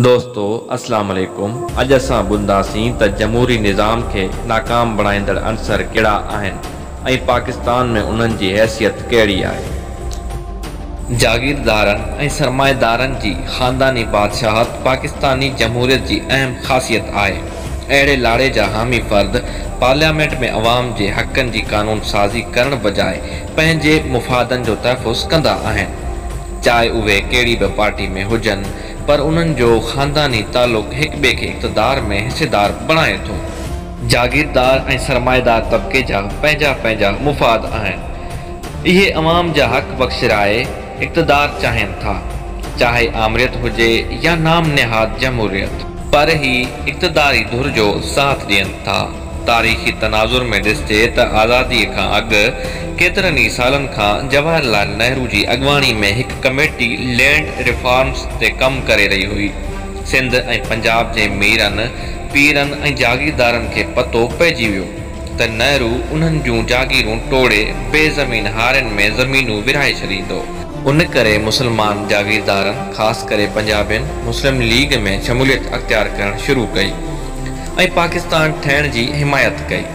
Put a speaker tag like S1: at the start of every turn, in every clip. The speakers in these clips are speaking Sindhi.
S1: دوستو اسلام عليڪم اڄ اسان ٻڌنداسين ته جمهوري نظام کي ناڪام بڻائيندڙ عنصر ڪهڙا آهن ۽ پاڪستان ۾ انهن جي حيثيت ڪهڙي آهي. جاگيردارن ۽ سرمائيدارن جي خانداني بادشاهت پاڪستاني جمهوريت جي اهم خاصيت آهي. اهڙي لاڙي جا حامي فرد پارليامينٽ ۾ عوام جي حقن جي قانون سازي ڪرڻ بجاء پنهنجي مفادن جو تحفظ ڪندا آهن. چاهي اهي ڪهڙي به پارٽي ۾ هجن پر انهن جو خانداني تعلق هڪ ٻئي کي اقتدار ۾ حصيدار بڻائي ٿو. جاگيردار ۽ سرمائيدار طبقي جا پنهنجا پنهنجا مفاد آهن. اهي عوام جا حق وڪسرائي اقتدار چاهين ٿا. چاهي آمريت هجي يا نام نهاد جمهوريت. پر هي اقتداري ڌر جو ساٿ ڏين ٿا. تاريخي تناظر ۾ ڏسجي ته آزاديء کان اڳ ڪيترن ئي سالن کان جواهر لعل نهرو جي اڳواڻي ۾ هڪ ڪميٽي لينڊ ريفارمز تي ڪم ڪري رهي هئي. سنڌ ۽ پنجاب جي ميرن، پيرن ۽ جاگيردارن کي پتو پئجي ويو ته نهرو انهن جون جاگيرون ٽوڙي بي زمين هارين ۾ زمينون ورهائي ڇڏيندو. ان ڪري مسلمان جاگيردارن خاص ڪري پنجابين مسلم ليگ ۾ شموليت اختيار ڪرڻ شروع ڪئي. ۽ پاڪستان ٺهڻ جي حمايت ڪئي.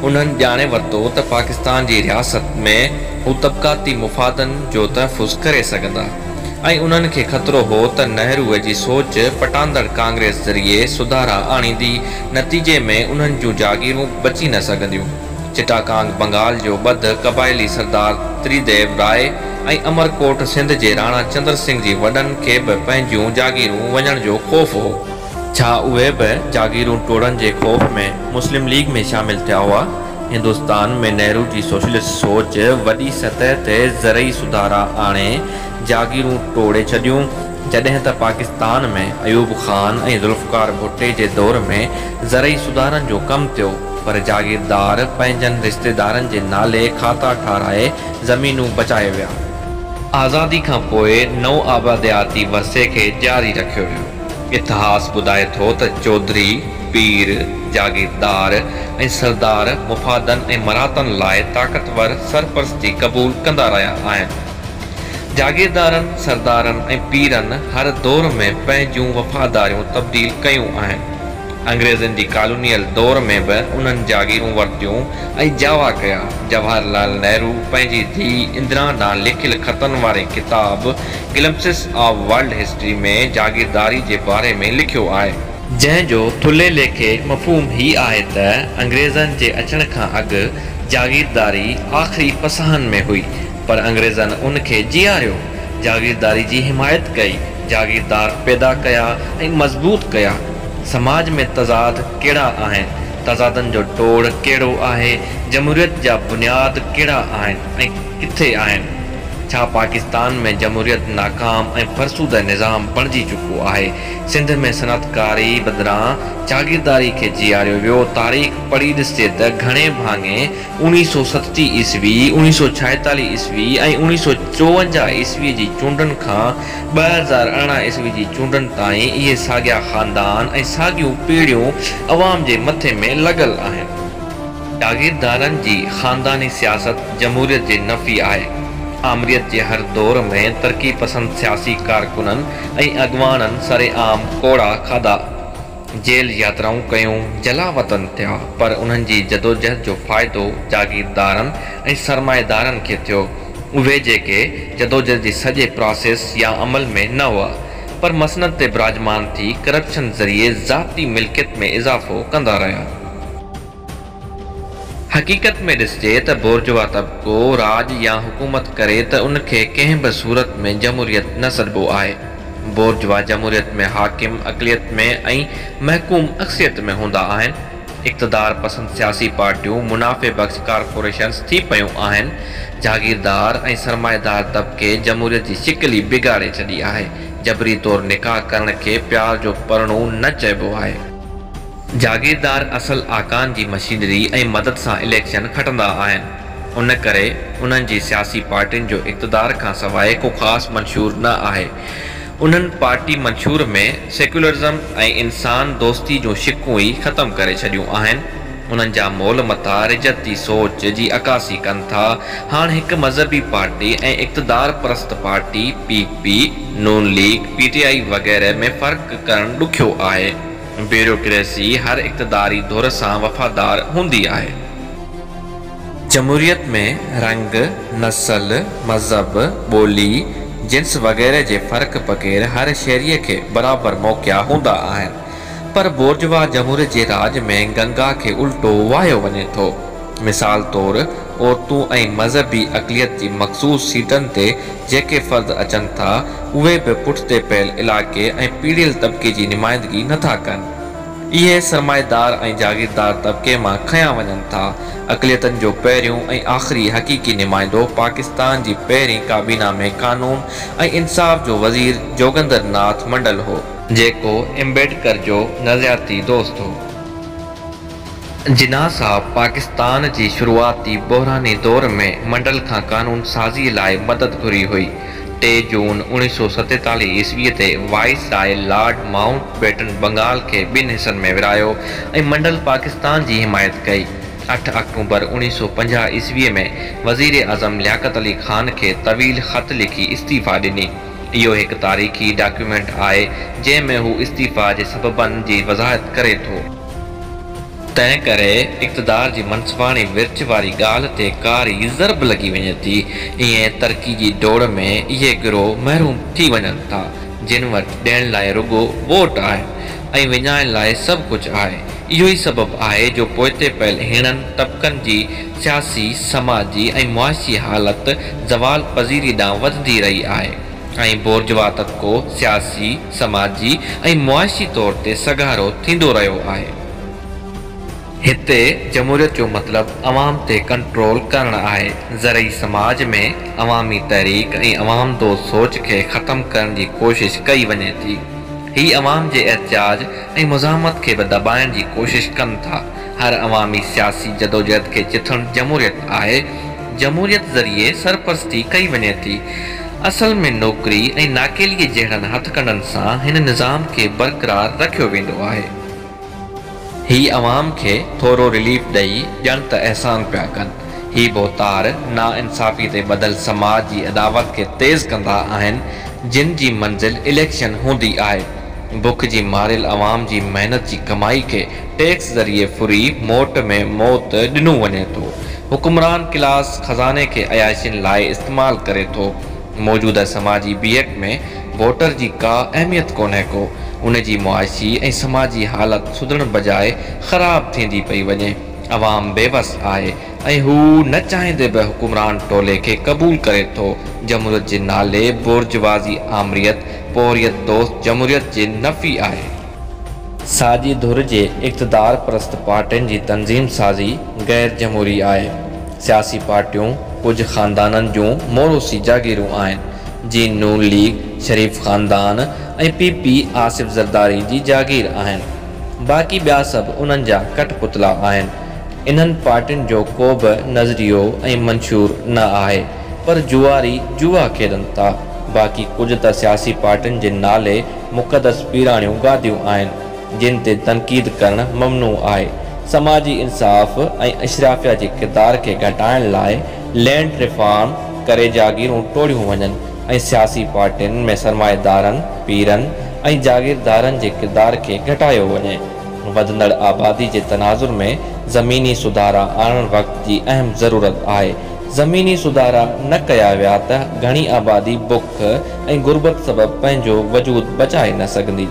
S1: انهن ڄاڻي ورتو ته پاڪستان جي رياست ۾ هو طبقاتي مفادن جو تحفظ ڪري سگهندا ۽ انهن کي خطرو هو ته نهروء جي سوچ پٽاندڙ ڪانگريس ذريعي سڌارا آڻيندي نتيجي ۾ انهن جون جاگيرون بچي نه سگهنديون چٽاڪانگ بنگال جو ٻڌ قبائلي سردار تريديو راء ۽ امرڪوٽ سنڌ جي راڻا چندر سنگهه جي وڏن کي به پنهنجيون جاگيرون وڃڻ جو خوف هو. ڇا اهي به جاگيرون ٽوڙڻ جي خوف ۾ مسلم ليگ ۾ شامل ٿيا هئا؟ هندستان ۾ نهرو جي سوشلسٽ سوچ وڏي سطح تي زرعي سڌارا آڻي جاگيرون ٽوڙي ڇڏيون، جڏهن ته پاڪستان ۾ ايوب خان ۽ ذوالفقار ڀٽي جي دور ۾ زرعي سڌارن جو ڪم ٿيو پر جاگيردار پنهنجن رشتيدارن جي نالي کاتا ٺاهرائي زمينون بچائي ويا. آزادي کان پوء نوآبادياتي ورثي کي جاري رکيو ويو. اتهاس ٻڌائي ٿو ته چوڌري، پير، جاگيردار ۽ سردار مفادن ۽ مراتن لاء طاقتور سرپرستي قبول ڪندا رهيا آهن. جاگيردارن، سردارن ۽ پيرن هر دور ۾ پنهنجون وفاداريون تبديل ڪيون آهن. انگريزن جي ڪالونيل دور ۾ به انهن جاگيرون ورتيون ۽ جاوا ڪيا. جواهر لال نهرو پنهنجي ڌيء اندرا ڏانهن لکيل خطن واري ڪتاب Glimpses of World History ۾ جاگيرداري جي باري ۾ لکيو آهي. جنهن جو ٿلهي ليکي مفهوم هي آهي ته انگريزن جي اچڻ کان اڳ جاگيرداري آخري پساهن ۾ هئي پر انگريزن ان کي جياريو، جاگيرداري جي حمايت ڪئي، جاگيردار پيدا ڪيا ۽ مضبوط ڪيا. سماج ۾ تضاد ڪهڙا آهن، تضادن جو ٽوڙ ڪهڙو آهي، جمهوريت جا بنياد ڪهڙا آهن ۽ ڪٿي آهن؟ ڇا پاڪستان ۾ جمهوريت ناڪام ۽ فرسوده نظام بڻجي چڪو آهي؟ سنڌ ۾ صنعتڪاري بدران جاگيرداري کي جياريو ويو. تاريخ پڙهي ڏسجي ته گهڻي ڀاڱي اوڻيهه سؤ ستٽيهه عيسوي، اوڻيهه سؤ ڇائيتاليهه عيسوي ۽ اوڻيهه سؤ چوونجاهه عيسوي جي چونڊن کان ٻه هزار ارڙهن عيسوي جي چونڊن تائين اهي ساڳيا خاندان ۽ ساڳيون پيڙهيون عوام جي مٿي ۾ لڳل آهن. جاگيردارن جي خانداني سياست جمهوريت جي نفي آهي. آمريت جي هر دور ۾ ترقي پسند سياسي ڪارڪنن ۽ اڳواڻن سرعام ڪوڙا کاڌا، جيل ياترائون ڪيون، جلاوطن ٿيا، پر انهن جي جدوجهد جو فائدو جاگيردارن ۽ سرمائيدارن کي ٿيو. اهي جيڪي جدوجهد جي سڄي پراسيس يا عمل ۾ نه هئا، پر مسند تي براجمان ٿي ڪرپشن ذريعي ذاتي ملڪيت ۾ اضافو ڪندا رهيا. حقيقت ۾ ڏسجي ته بورجوا طبقو راڄ يا حڪومت ڪري ته ان کي ڪنهن به صورت ۾ جمهوريت نه سڏبو آهي. بورجوا جمهوريت ۾ حاڪم اقليت ۾ ۽ محڪوم اڪثريت ۾ هوندا آهن. اقتدار پسند سياسي پارٽيون منافعي بخش ڪارپوريشنز ٿي پيون آهن. جاگيردار ۽ سرمائيدار طبقي جمهوريت جي شڪل ئي بگاڙي ڇڏي آهي. جبري طور نڪاح ڪرڻ کي پيار جو پرڻون نه چئبو آهي. جاگيردار اصل آقائن جي مشينري ۽ مدد سان اليڪشن کٽندا آهن، ان ڪري انهن جي سياسي پارٽين جو اقتدار کان سواء ڪو خاص منشور نه آهي. انهن پارٽي منشور ۾ سيڪيولرزم ۽ انسان دوستي جون شقون ئي ختم ڪري ڇڏيون آهن. انهن جا مول متا رجعتي سوچ جي عڪاسي ڪن ٿا. هاڻ هڪ مذهبي پارٽي ۽ اقتدار پرست party P. P, Noon league, P T I وغيره ۾ فرق ڪرڻ ڏکيو آهي. بيوروڪريسي هر اقتداري ڌر سان وفادار هوندي آهي. جمهوريت ۾ رنگ، نسل، مذهب، ٻولي، جنس وغيره جي فرق بغير هر شهريء کي برابر موقعا هوندا آهن. پر بورجوا جمهوريت جي راڄ ۾ گنگا کي الٽو واهيو وڃي ٿو. مثال طور عورتون ۽ مذهبي اقليت جي مخصوص سيٽن تي جيڪي فرد اچن ٿا اهي به پٺتي پيل علائقي ۽ پيڙهيل طبقي جي نمائندگي نه ٿا ڪن. اهي سرمائيدار ۽ جاگيردار طبقي مان کنيا وڃن ٿا. اقليتن جو پهريون ۽ آخري حقيقي نمائندو پاڪستان جي پهرين ڪابينا ۾ قانون ۽ انصاف جو وزير جوگندر ناٿ منڊل هو. جيڪو امبيڊڪر جو نظرياتي دوست هو. جناح صاحب پاڪستان جي شروعاتي بحراني دور ۾ منڊل کان قانون سازيء لاء مدد گهري هئي. ٽي جون اوڻيهه سؤ ستيتاليهه عيسويء تي viceroy lord Mountbatten Bengal کي ٻن حصن ۾ ورهايو ۽ منڊل پاڪستان جي حمايت ڪئي. اٺ آڪٽوبر اوڻيهه سؤ پنجاهه عيسويء ۾ وزير اعظم لياقت علي خان کي طويل خط لکي استعيفيٰ ڏني. اهو هڪ تاريخي ڊاڪيومينٽ آهي، جنهن ۾ هو استعيفيٰ جي سببن جي وضاحت ڪري ٿو. تنهن ڪري اقتدار جي منصباڻي ورڇ واري ڳالهه تي ڪاري ضرب لڳي وڃي ٿي. ائين ترقي جي ڊوڙ ۾ اهي گروهه محروم ٿي وڃن ٿا، جن وٽ ڏيڻ لاء رڳو ووٽ آهن ۽ وڃائڻ لاء سڀ ڪجهه آهي. اهو ئي سبب آهي جو پوئتي پيل هيڻن طبقن جي سياسي، سماجي ۽ معاشي حالت زوال پذيري ڏانهن وڌندي رهي آهي. ۽ بورجوا طبقو سياسي، سماجي ۽ معاشي طور تي سگهارو ٿيندو رهيو آهي. هتي جمهوريت جو مطلب عوام تي ڪنٽرول ڪرڻ آهي. زرعي سماج ۾ عوامي تحريڪ ۽ عوام دوست سوچ کي ختم ڪرڻ جي ڪوشش ڪئي وڃي ٿي. هي عوام جي احتجاج ۽ مزاحمت کي به دٻائڻ جي ڪوشش ڪن ٿا. هر عوامي سياسي جدوجهد کي چٿڻ جمهوريت آهي، جمهوريت ذريعي سرپرستي ڪئي وڃي ٿي. اصل ۾ نوڪري ۽ ناڪيلي جهڙن هٿڪنڊن سان هن نظام کي برقرار رکيو ويندو آهي. هي عوام کي ٿورو رليف ڏئي ڄڻ ته احسان پيا ڪن. هي ڀوتار ناانصافي تي ٻڌل سماج جي اڏاوت کي تيز ڪندا آهن، جن جي منزل اليڪشن هوندي آهي. بک جي ماريل عوام جي محنت جي ڪمائي کي ٽيڪس ذريعي ڦري موٽ ۾ موت ڏنو وڃي ٿو. حڪمران ڪلاس خزاني کي عياشين لاء استعمال ڪري ٿو. موجوده سماجي بيهڪ ۾ ووٽر جي ڪا اهميت ڪونهي ڪو. ان جي معاشي ۽ سماجي حالت سڌرڻ بجاء خراب ٿيندي پئي وڃي. عوام بيوس آهي ۽ هو نه چاهيندي به حڪمران ٽولي کي قبول ڪري ٿو. جمهوريت جي نالي بورجوازي آمريت، پورهيت دوست جمهوريت جي نفي آهي. ساڄي ڌر جي اقتدار پرست پارٽين جي تنظيم سازي غير جمهوري آهي. سياسي پارٽيون ڪجهه خاندانن جون موروثي جاگيرون آهن، جيئن نون ليگ، شريف خاندان ۽ پي پي آصف زرداري جي جاگير آهن. باقي ٻيا سڀ انهن جا ڪٺ پتلا آهن. انهن پارٽين جو ڪو به نظريو ۽ منشور نه آهي، پر جوئاري جوا کيڏن ٿا. باقي ڪجهه ته سياسي پارٽين جي نالي مقدس پيراڻيون گاديون آهن، جن تي تنقيد ڪرڻ ممنوع آهي. سماجي انصاف ۽ اشرافيه جي ڪردار کي گهٽائڻ لاء لينڊ ريفارم ڪري جاگيرون ٽوڙيون وڃن ۽ سياسي پارٽين ۾ سرمائيدارن، پيرن ۽ جاگيردارن جي ڪردار کي گهٽايو وڃي. وڌندڙ آبادي جي تناظر ۾ زميني سڌارا آڻڻ وقت جي اهم ضرورت آهي. زميني سڌارا نه ڪيا ويا ته گهڻي آبادي بک، بک ۽ غربت سبب پنهنجو وجود بچائي نه سگهندي.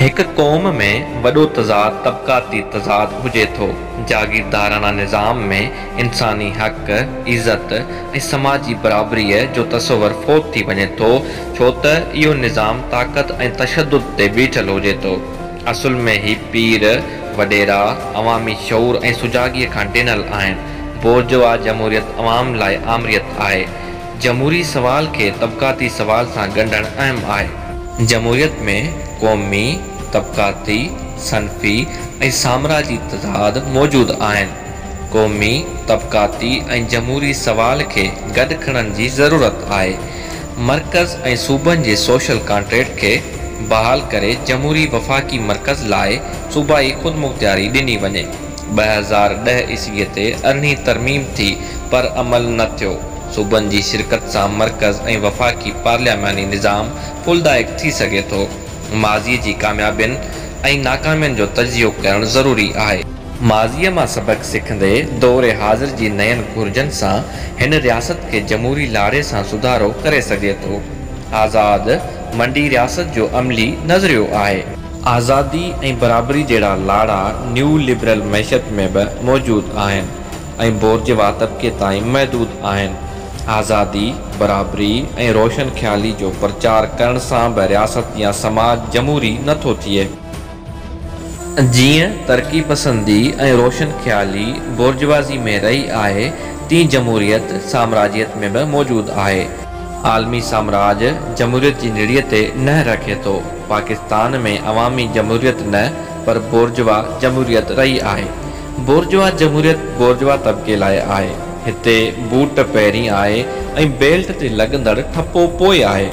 S1: هڪ قوم ۾ وڏو تضاد طبقاتي تضاد هجي ٿو. جاگيرداراڻا نظام ۾ انساني حق، عزت ۽ سماجي برابريء جو تصور فوت ٿي وڃي ٿو، ڇو ته اهو نظام طاقت ۽ تشدد تي بيٺل هجي ٿو. اصل ۾ هي پير وڏيرا عوامي شعور ۽ سجاڳيء کان ڊنل آهن. بورجوا جمهوريت عوام لاء آمريت آهي. جمهوري سوال کي طبقاتي سوال سان ڳنڍڻ اهم آهي. جمهوريت ۾ قومي، طبقاتي، صنفي ۽ سامراجي تضاد موجود آهن. قومي، طبقاتي ۽ جمهوري سوال کي گڏ کڻڻ جي ضرورت آهي. مرڪز ۽ صوبن جي سوشل ڪانٽريڪٽ کي بحال ڪري جمهوري وفاقي مرڪز لاء صوبائي خودمختياري ڏني وڃي. ٻه هزار ڏهه عيسويء تي ارڙهين ترميم ٿي پر عمل نه ٿيو. صوبن جي شرڪت سان مرڪز ۽ وفاقي پارلياماني نظام ڦلدائق ٿي سگهي ٿو. ماضيء جي ڪاميابين ۽ ناڪامين جو تجزيو ڪرڻ ضروري آهي. ماضيء مان سبق سکندي دور حاضر جي نين گهرجن سان هن رياست کي جمهوري لاڙي سان سڌارو ڪري سگهجي ٿو. آزاد منڊي رياست جو عملي نظريو آهي. آزادي ۽ برابري جهڙا لاڙا نيو لبرل معيشت ۾ به موجود آهن ۽ بورجوا طبقي تائين محدود آهن. آزادي، برابري ۽ روشن خيالي جو پرچار ڪرڻ سان به رياست يا سماج جمهوري نه ٿو ٿئي. جيئن ترقي پسندي ۽ روشن خيالي بورجوازي ۾ رهي آهي، تيئن جمهوريت سامراجيت ۾ به موجود آهي. عالمي سامراج جمهوريت جي نڙيء تي نهر رکي ٿو. پاڪستان ۾ عوامي جمهوريت نه پر بورجوا جمهوريت رهي آهي. بورجوا جمهوريت بورجوا طبقي لاء آهي. هتي بوٽ پهرين آهي ۽ بيلٽ تي لڳندڙ ٺپو پوء آهي.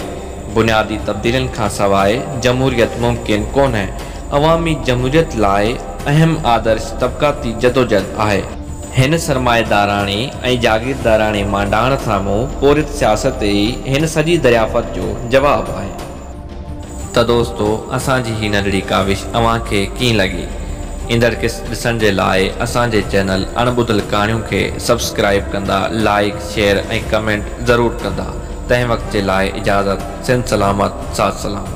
S1: بنيادي تبديلين کان سواء جمهوريت ممڪن ڪونهي. عوامي جمهوريت لاء اهم آدرش طبقاتي جدوجهد آهي. هن سرمائيداراڻي ۽ جاگيرداراڻي مانڊاڻ سامهون پورهيت سياست ئي هن سڄي دريافت جو جواب آهي. ته دوستو اسان جي هي ننڍڙي ڪاوش اوهان کي ڪيئن لڳي؟ ايندڙ قسط ڏسڻ جي لاء اسان جي چينل اڻ ٻڌل ڪهاڻيون کي سبسڪرائيب ڪندا لائيڪ شيئر ۽ ڪمينٽ ضرور ڪندا تنهن وقت جي لاء اجازت سنڌ سلامت ساٿ سلامت.